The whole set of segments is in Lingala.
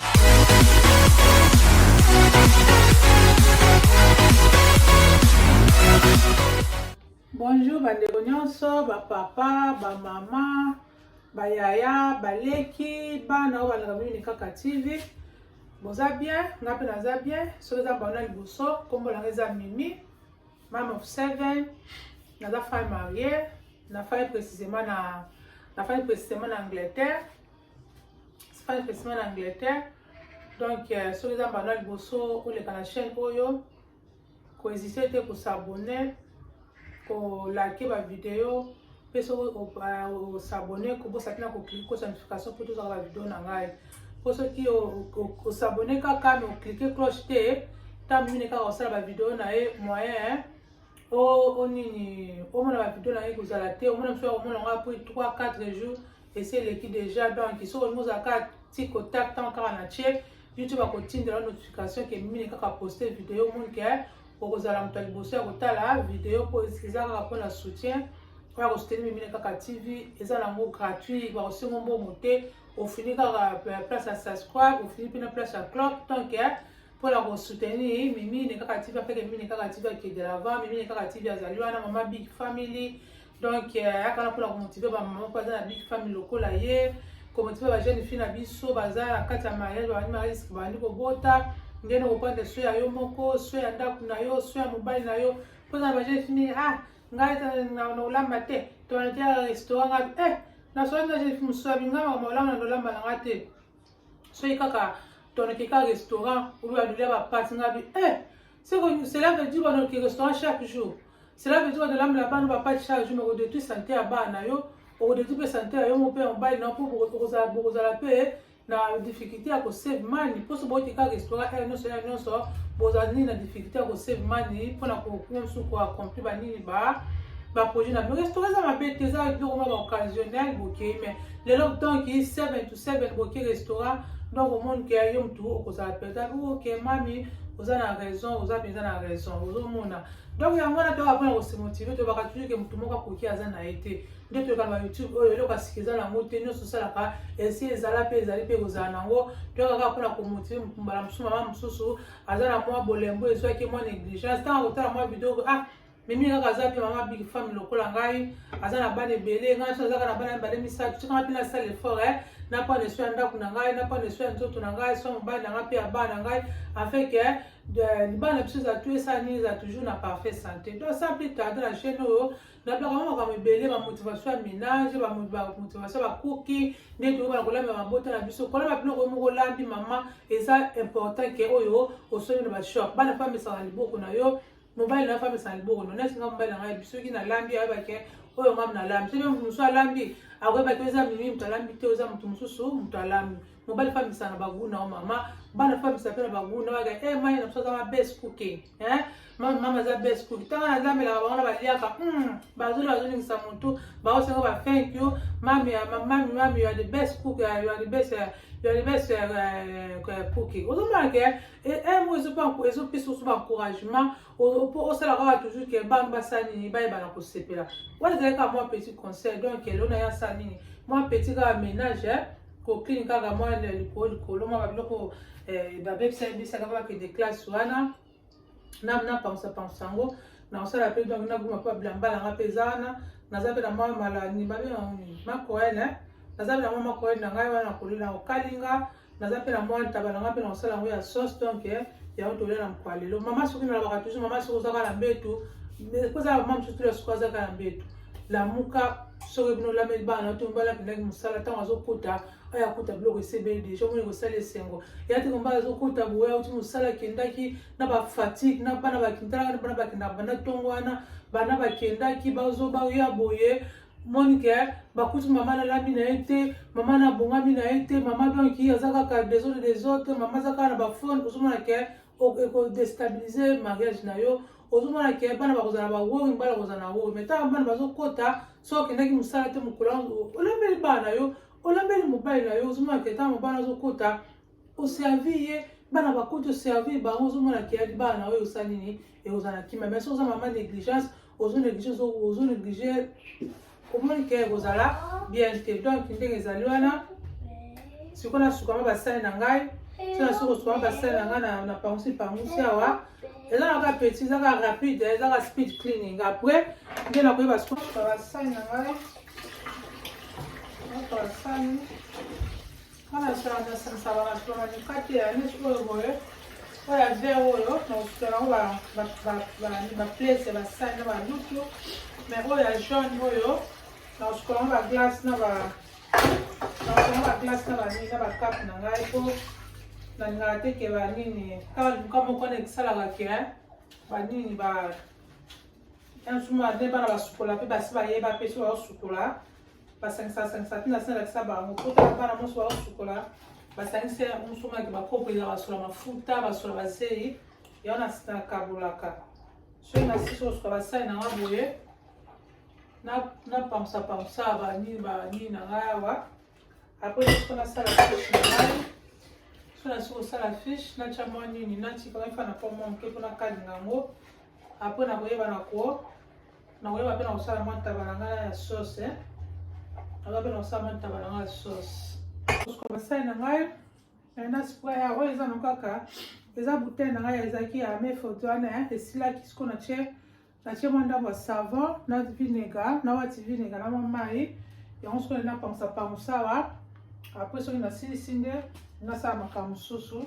Bonjour bandeko nyonso bapapa bamama bayaya baleki bana oyo balaka mini kaka tv boza bien nga mpe naza bien soki eza mbanda liboso nkombo nanga eza mimi mam of seven naza femme marier nafai précisément na nafai précisément na angleterre sifani fesima na angleterre donc euh, soki eza mbanda liboso oleka na chaîne oyo kohésite te kosabone kolake bavideo mpe soki osabone euh, kobosa te na koklike kosa notification mpo tozwaka bavideo na ngai mpo soki osabone kaka me oklike cloche te ntango mine kaka osala bavideo na ye moyen onini omona bavideo na ye kozala te omona mosu akomona yango apres 3 4 jours esi eleki deja donc soki olingi ozala kaka ti contact ntango kaka na tie youtube akotindela notification ke mine kaka poste video omoni ke okozala moto ya liboso ya kotala video mpo eza kaka mpo na soutien oya kosuteni mimine kaka tv eza nango gratuit bakosengo mbongo te ofini kaka euh, place ya subscribe ofini mpe na place ya clock donc mpo na kosoutenir mimine kaka tv apeke mimine kaka tv akede lava mimine kaka tv azali wana mama big family donc eh, ayaka wana mpona komotive bamama mpo aza na big famille lokola ye komotive bajeune fille na biso baza na kati ya mariage babandi mariage babandi kobota ndenge okopanda so ya yo moko so ya ndako na yo so ya mobali na yo mpona na bajeune fille nini ah ngai nakolamba te toanatia restaurant ngai eh nasolaki na jeune fille mosusu abingamaka maolamba na lolamba na ngai te soki kaka toneke ka restaurant oyo balulia bapati nga bi eh seko cela veut dire banoki restaurant chaque jour cela veut dire banolambela bana bapati chaque jour moko detui sante ya bana na yo okodetui mpe sante ya yo moko mpe ya mobali na yo mpo bokozala mpe na difficulté ya kosave mani mposo bouti ka restaurant ere nyonso ere nyonso bozala nini na difficulté ya kosave mani mpona kokoma mosusu koaccompli banini ba baprojet na bino restaurant eza mabe te eza biloko mwa baoccasionnel bokei mai lelo ntanki 7 to seven boki restaurant donc omoni ke yo mutu okozala mpenza oke oh, mami oza na raison oza mpenza na raison ozomona donc yango wana toyaka mpona kosemotive toyebaka toujours ke motu moko akoki aza na ye te nde toyekaka ba youtube oyo eloko asika eza nango te nyonso osalaka esi ezala mpe ezali mpe ekozala nango toyaka kaka mpona komotive mbala mosusu mama mosusu aza na mwa bolembo ezwaki mwa négligence ntango kotala mwa video ah mimi kaka aza mpe mama big femme lokola ngai aza na bana ebele ngai so azaka na bana mibale misato tikanga mpe nasala effort e napana eso ya ndako na ngai napana eso ya nzoto na ngai so mobali na ngai mpe ya bana na ngai afin ke libala na biso ezatu esala nini eza toujours na parfait santé donc ça mpe tarde na chaîne oyo nablaka mwa makambo ebele bamotivation ya ménage bamotivation ya bakuki nde toyokana kolamba mabota na biso kolamba biloko yo moko olambi mama eza important ke oyo osombi na bashop bana mpe amesaka liboko na yo mobali na femme esala liboko no neti nga mobali na ngai soki nalambi ayebake oyo ngai nalambi soki moto mosusu alambi akoyebaki oza mimi moto alambi te oza moto mosusu moto alambi mobali famisa na baguna o mama bana famisa mpe na baguna baka e eh, mai na biso aza ma best cooking eh? mama aza best cooking ntango nazambelaka bango na baliaka hmm, bazoli bazolingisa motu baosengo ba thank you mami mami mami ya the best cook ya the best ya the best cooking ozomona ke emo ezopesa oso baencouragement mpo osalaka kaka toujours ke bana basala nini bayebana kosepela wana ezali kaka mwa petit conseil donc elona ye asala nini mwa petit kaka ménage kokini kaka mwa likolo likolo mwa babiloko babebisa yebisaka bakende classe wana napangusa pangusa yango nakosala mpe donc nabuma mpe babilamba nanga mpe eza wana naza mpe na mwa malani babe makoele naza mpe na mwa makoele na ngai wana nakolela okalinga naza mpe na mwa ntaba na nga mpe na kosala yango ya sauce donc eh, yango tolia na mokwa lelo mama soki nalobaka toujours mama soki ozaka na mbetu kozala mama mosusu tula soki azaka na mbetu lamuka soki bino olameli bana to mbala akendaki mosala ntango azokuta aya kuta biloko esebeli deja omoni kosala esengo ya te kombala azokuta boye auti mosala akendaki na bafatigue na bana bakintalaka na bana bakendaka banda ntongo wana bana bakendaki bazoba ya boye moni ke bakuti mama nalami na ye te mama nabongami na ye te mama donc ye aza kaka des autres des autres mama aza kaka na bafone ozomona ke ekodestabilize mariage na yo ozomona ke bana bakozala bawori bana bakozala na wori mai ntango bana bazokota so okendaki mosala te mokolo olambeli bana na yo olambeli mobali na yo ozomona ke ntango mobali azokota oservi ye bana bakoti oservi bango ozomona ke yaki bana na yo osali nini et aux anakima mais soza maman négligence aux négligence aux négligence omoni ke ekozala bien te donc ndenge ezali wana sikoyo nasukama basali na ngai so nasi kosukama basali na ngai na pangusi pangusi awa eza na kaka petit eza kaka rapide eza kaka speed cleaning après nde nakoyeba sikoyo basali na ngai basali Wana sala na sansa ba restaurant na mikate ya neti oyo boye oyo ya vert oyo na kosuka nango ba place ya basani na balutu mais oyo ya jaune oyo na kosuka nango ba glace na ba na kosuka nango ba glace na banini na bakape na ngai po nalingaka te ke banini kaka luka moko na ekisalaka ke banini ba nsuma nde bana basukola mpe basi bayeba mpe so baosukola basangisa basangisa tina sina lakisa bango potala bana moso baosukola basangisa yango mosomaki bakopo eza basula mafuta basula bazei yango nakabolaka soki nasisi osuka basali na nga boye napamsa pamsa banini banini na ngai awa apres soki nasala fiche na ngai soki nasi kosala fiche natya mwa nini natika efa na po mwa moke mpo nakalinga yango apres nakoyeba na ko nakoyeba mpe na kosala mwa ntaba na ngai ya sauce nakoyeba mpe na kosala mwa ntaba na ngai ya sauce osuka basali na ngai na spray ya oyo eza na kaka eza bouteille na ngai ezalaki ya me foto wana esilaki siko na tie na tie mwa ndambo ya savon na vinega na wati vinega na mwa mai yango siko na napangisa pangusawa apres soki nasilisi nde nasala makambo mosusu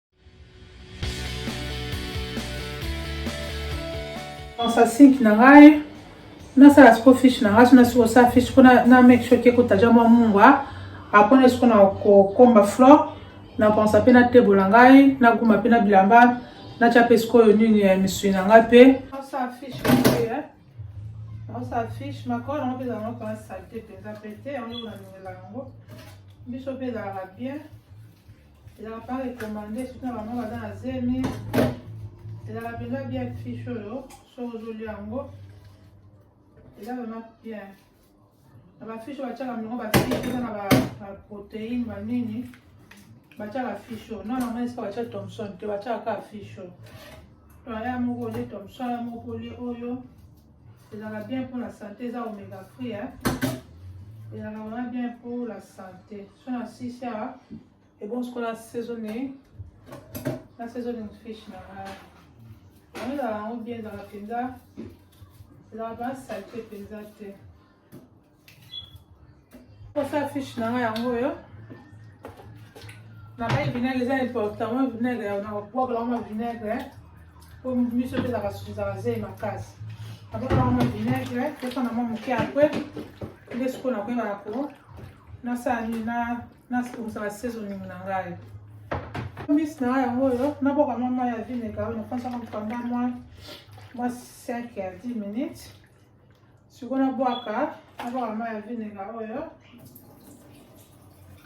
Nasa sink na ngai nasala siko fish na ngai sona siko sa fish ko na make sure ke kotaja mwa mungwa apres na siko na kokomba flor na pensa mpe na tebo na ngai na guma mpe na bilamba natya mpe sikoyo nini ya misui na ngai mpe nasala fish nasala fish makolo yango mpe ezalanga mpona salite mpenza mpe te yango nalingela yango biso mpe ezalaka bien ezalaka mpaka ekomande soki na bango baza na zemi ezalaka mpenza bien fiche oyo soki ozolia yango eza vraiment bien na bafiche batiaka mingo bafiche eza na baproteine banini batiaka fiche oyo nana yango esika batia thomson te batiaka kaka fiche oyo aya moko olie thomson aya moko olie oyo ezalaka bien mpo na sante eza omega free hein? ezalaka vraiment bien mpo la sante so na sisi awa ebongo sikola saisonne na saisonne fiche na ngai yango ezalaka yango bien ezalaka mpenza ezalaka mpenza salite mpenza te Kosa fiche na nga yango oyo. Na bai vinaigre eza important, moi vinaigre ya na kokwakola yango na vinaigre po miso mpe ezalaka susu ezalaka zei makasi. Nakokola yango na vinaigre, pesa na mwa moke apre nde sikoyo nakoyeba na ko nasala nini na nasikomisaka sezoningi na ngai. Mbisi na ngai yango oyo nabwaka mwa mai ya vinaigre oyo nafandisaka mokanda mwa mwa 5 ya 10 minutes. siko nabwaka nabwaka mai ya vinega oyo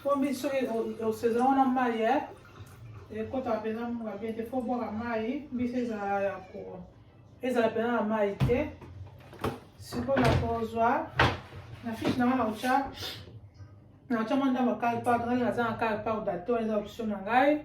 po mbi soki osezela wana mai ye ekotaka mpenza munga bien te fo bwaka mai mbisi ezala ya ko ezala mpenza na mai te sikoyo nakozwa na fiche nanga nakotya nakotya mwa ndambo kale pardon ngai naza na kale pardon to eza option na ngai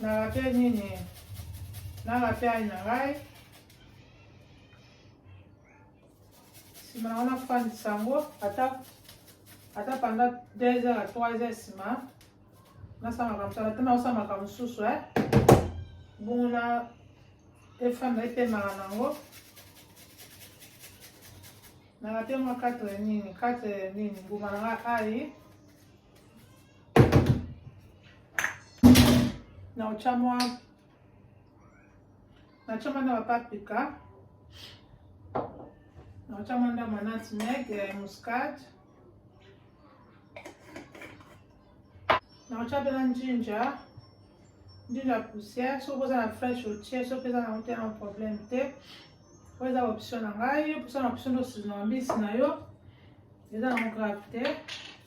Na raté nini? Na raté ayi na ngai. Sima na wana fandisa yango ata ata panda 2 heures à 3 heures sima nasamaka mosala ata naosamaka mosusu e bongo na efanda epemaka nango nalate mwa 4 nini 4 nini mbuma na ngai ayi na otya mwa natya mwa na bapaprika na otya mwa ndambo ya nutmeg ya eh, muscade na otya mpe na njinja njinja poussière soki oza na fresh otie soki eza na ote na problème te oyo eza option na ngai option na option nde osinaa mbisi na yo eza na grave te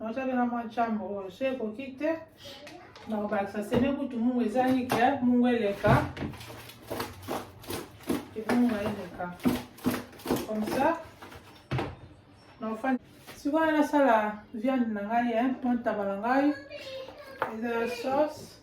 Naotaki na mwa chambre oyo so ekoki te nakobakisa sene kutu mungu ezangi ke mungu eleka mungu eleka comme ça naofandi sikoyo nasala viande na ngai eh, mwa ntaba na ngai eza sauce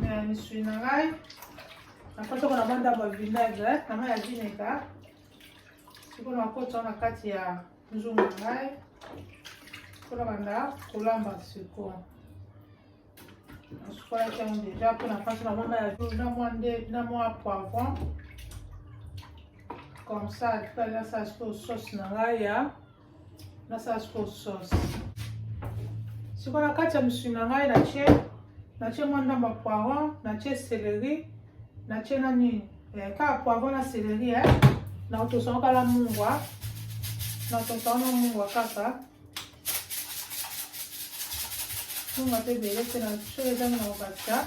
Na misui na ngai nakoti yango na mwa ndambo ya vinaigre na mai ya vinega sikoyo nakoti yango na kati ya nzungu na ngai mpo na banda kolamba sikoyo nasukolaki yango deja mpo na kati na mwa mai ya na mwa nde na mwa poivron comme ça tout à l'heure ça se sauce na ngai ya nasala sikoyo sauce sikoyo na kati ya mosuni na ngai natie natie mwa ndambo ya poiron natie celery natie na nini eh, kaka poiron na celery eh. na otosango kala mungwa na otosango na mungwa kaka mungwa mpe ebele te na soki ezangi na kobakisa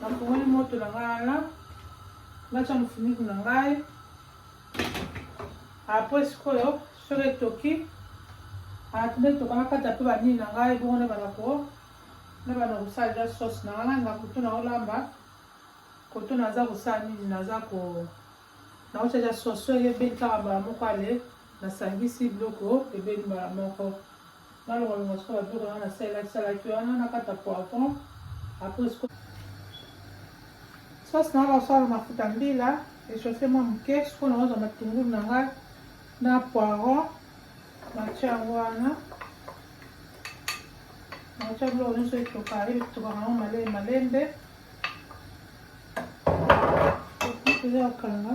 nafungoli moto na ngai wana natya mofiniku na ngai apres sikoyo soki etoki atuna etoka nakata mpe banini na ngai bongo na banako na bana kosala ja sauce na ngai na kutu na olamba koto naza kosala nini naza ko naotya ja sauce soki ebeli kaka mbala moko ale nasangisi biloko ebeli mbala moko Nalonga longa sikoyo ba biloko nanga nasalaki salaki wana nakata poivron après sikoyo sauce nanga osala mafuta mbila echauffe mwa moke sikoyo nakozwa matungulu na ngai na poiron natia yango wana natia biloko nyonso etoka etokaka yango malele malembe eza kokanga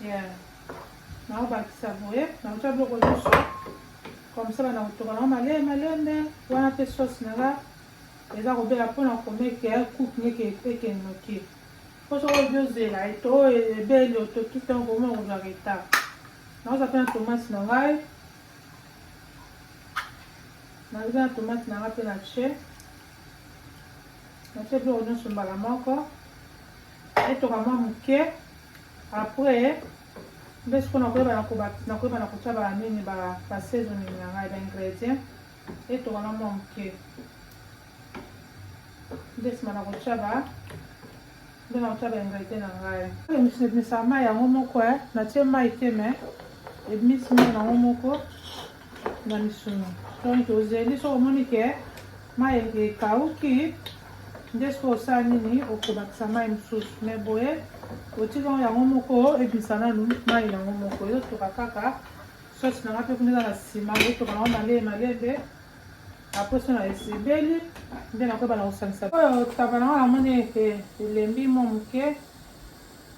Yeah. naobakisa boye nakotia biloko nyonso komsala na kotoka nango malele malembe wana mpe sauce na nga eza kobela mpona komeke ya coupe neke ekende noki mpo soko obi ozela eto oyo ebeli otoki ntango komona kozwa retard naoza mpe na tomate na ngai naza na tomate na ngai mpe na tie natie biloko nyonso mbala moko etoka mwa moke après nde siko nakoyeba nakoyeba na kotya ba nini ba seasoning na ngai ba ingredient etoka na mwa moke nde nsima na kotya ba nde na kotya ba ingredient na ngai misama yango moko eh, natie mai te mai ebimisi mai yango moko na misuni donc tozeli soki omoni ke mai ekauki nde soki osala nini okobakisa mai mosusu me boye otika yango yango moko ebimisa nanu mai yango moko ezotoka kaka sosi nanga mpe kuna eza na nsima ezotoka nango malee malembe apres so na esebeli nde nakoyeba na kosangisa oyo taba nango namoni ete elembi mwa moke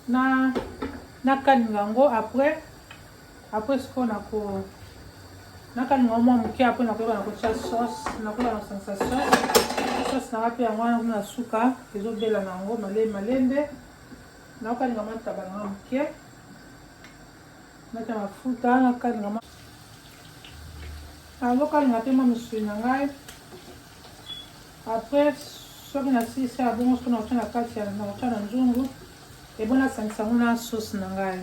na nakalinga yango apres Après sikoyo nako nakalinga yango mwa moke apres nakoyeba na kotya sauce nakoyeba na kosangisa sauce sauce nanga mpe yango wana kuna na suka ezobela na yango male malembe nakokalinga mwa ntaba nanga moke natya mafuta nakalinga mwa nazokalinga mpe mwa misuni na ngai apres soki nasilisi ya bongo soki nakotya na kati nakotya na nzungu ebona asangisa yango na sauce na ngai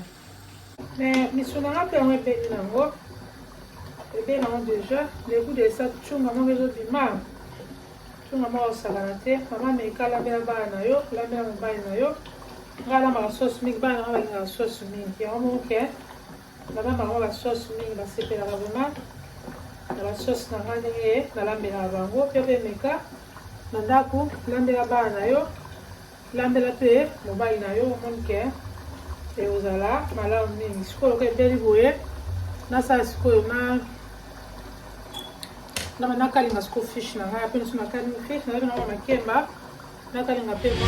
Mais misu na nga pe yango ebeli na ngo ebeli na ngo deja le gout de sa chunga moko ezo bima chunga moko osakana te mama meka lambela bana na yo lambela mobali na yo nga alambaka sauce mingi bana nga balingaka sauce mingi yango moko ke nalambaka ngo ba sauce mingi basepelaka vraiment na ba sauce na nga ndenge nalambelaka bango pe pe meka na ndako lambela bana na yo Landela pe mobali na yo omoni ke ekozala malamu mingi sikoyo ke ebeli boye nasala sikoyo na na nakalinga siko fish na ngai ape niso nakalinga fish na ngai na makemba nakalinga pe mwa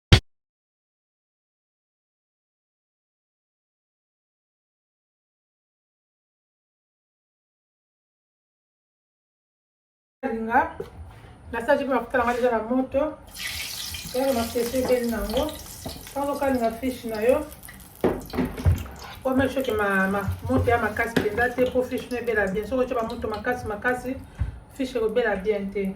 alinga nasalaki mpe mafuta nanga deja na moto yaka mapesi ebeli nango ntango okalinga fiche na yo omake soki moto ya makasi mpenza te mpo fiche no ebela bien soki otya bamoto makasi makasi fiche ekobela bien te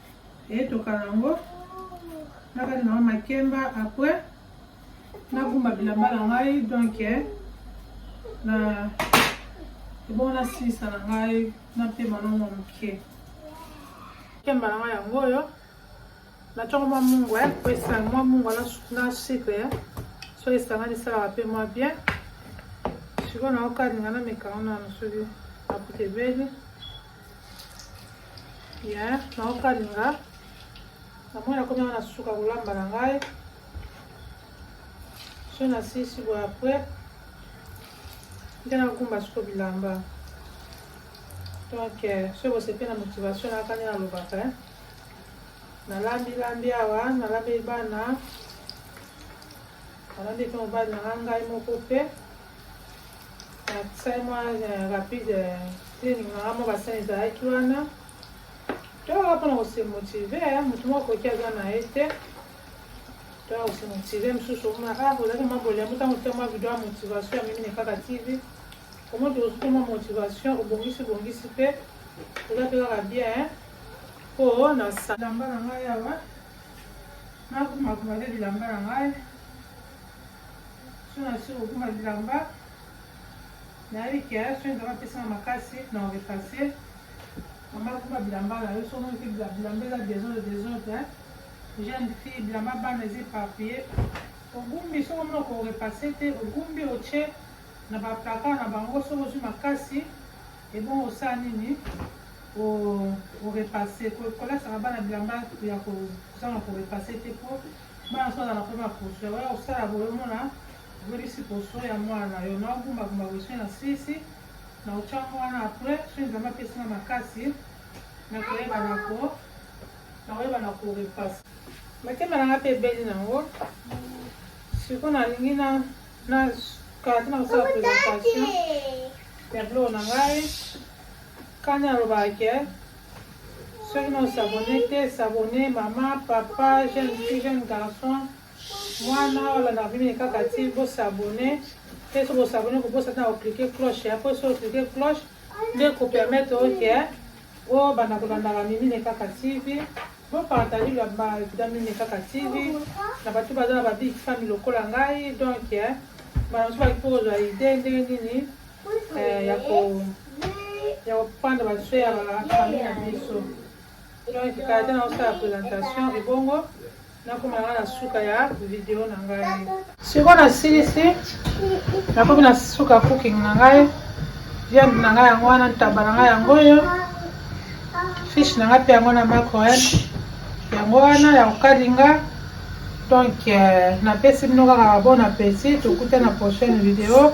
etokana yango nakati na makemba après nagumba bilamba na ngai donc eh, na ebongo nasilisa na ngai napema nango moke kemba na ngai yango oyo natyoko mwa mungu eh, po esanga mwa mungu na sucre eh. so esangani esalaka mpe mwa bien sikoyo naokalinga na mekango nano soki akuta ebeli ya naokalinga namoni nakomi yango na suka kolamba na ngai so nasisi boye apres nde nakumba siko bilamba donc euh, soki bosepe na motivation nayaka nde nalobaka eh. nalambi lambi awa nalambi bana nalambi mpe mobali nanga ngai moko mpe nasali mwa euh, rapide euh, training nanga mwa basani ezalaki wana toyaka mpona kose motive euh, motu moko akoki aza na ye te toyaka kose motive mosusu omona ah ozalaki mwa bolembo ntango tia mwa video ya motivation ya mimi nekaka tv omoni tokosuki mwa motivation obongisi bongisi mpe oza mpe kaka bien mpo na salamba na ngai awa nakumakuma te bilamba na ngai soki nasi kokoma bilamba nayebi ke soki nzambe apesanga makasi na orefase mama kuma bilamba na yo soki omoni ke bilamba eza desordre desordre jeune fille bilamba bana eza eparpille ogumbi soki omona korepase te ogumbi otye na baplaka na bango soki ozwi makasi ebongo osala nini orepase kolasaka bana bilamba ya kozanga korepase te po Bana soki azalaka pe maposo ya koya kosala boye omona obebisi poso ya mwana na yo nao gumba gumba boye soki na silisi na kotia yango wana apres soki nzambe apesi nga makasi na koyeba na ko na koyeba na ko repase motema na nga pe ebeli na yango siko nalingi na na kala te na kosala presentation ya biloko na ngai kani alobaka ke Soki no s'abonner te, s'abonner maman, papa, jeune fille, jeune garçon, mwana olanda bino ye kaka ti bo s'abonner te soki bo s'abonner ko bosa tana ko cliquer cloche ya po soki cliquer cloche nde ko permettre oke o banda ko landa ba mimi ne kaka TV bo partager la ba vida mimi ne kaka TV na batu baza na ba big famille lokola ngai donc ba nso ba ko zwa idée ndenge nini eh, ya ko ya kopanda baswe ya bafamille na biso donc kala te nakosala présentation ebongo nakoma nanga na suka ya video na ngai sikoyo nasilisi nakomi na suka cooking na ngai viande na ngai yango wana ntaba na ngai yango oyo fish na ngai mpe yango na macroel yango wana ya kokalinga donc euh, napesi bino kaka bon appétit tokutana prochaine video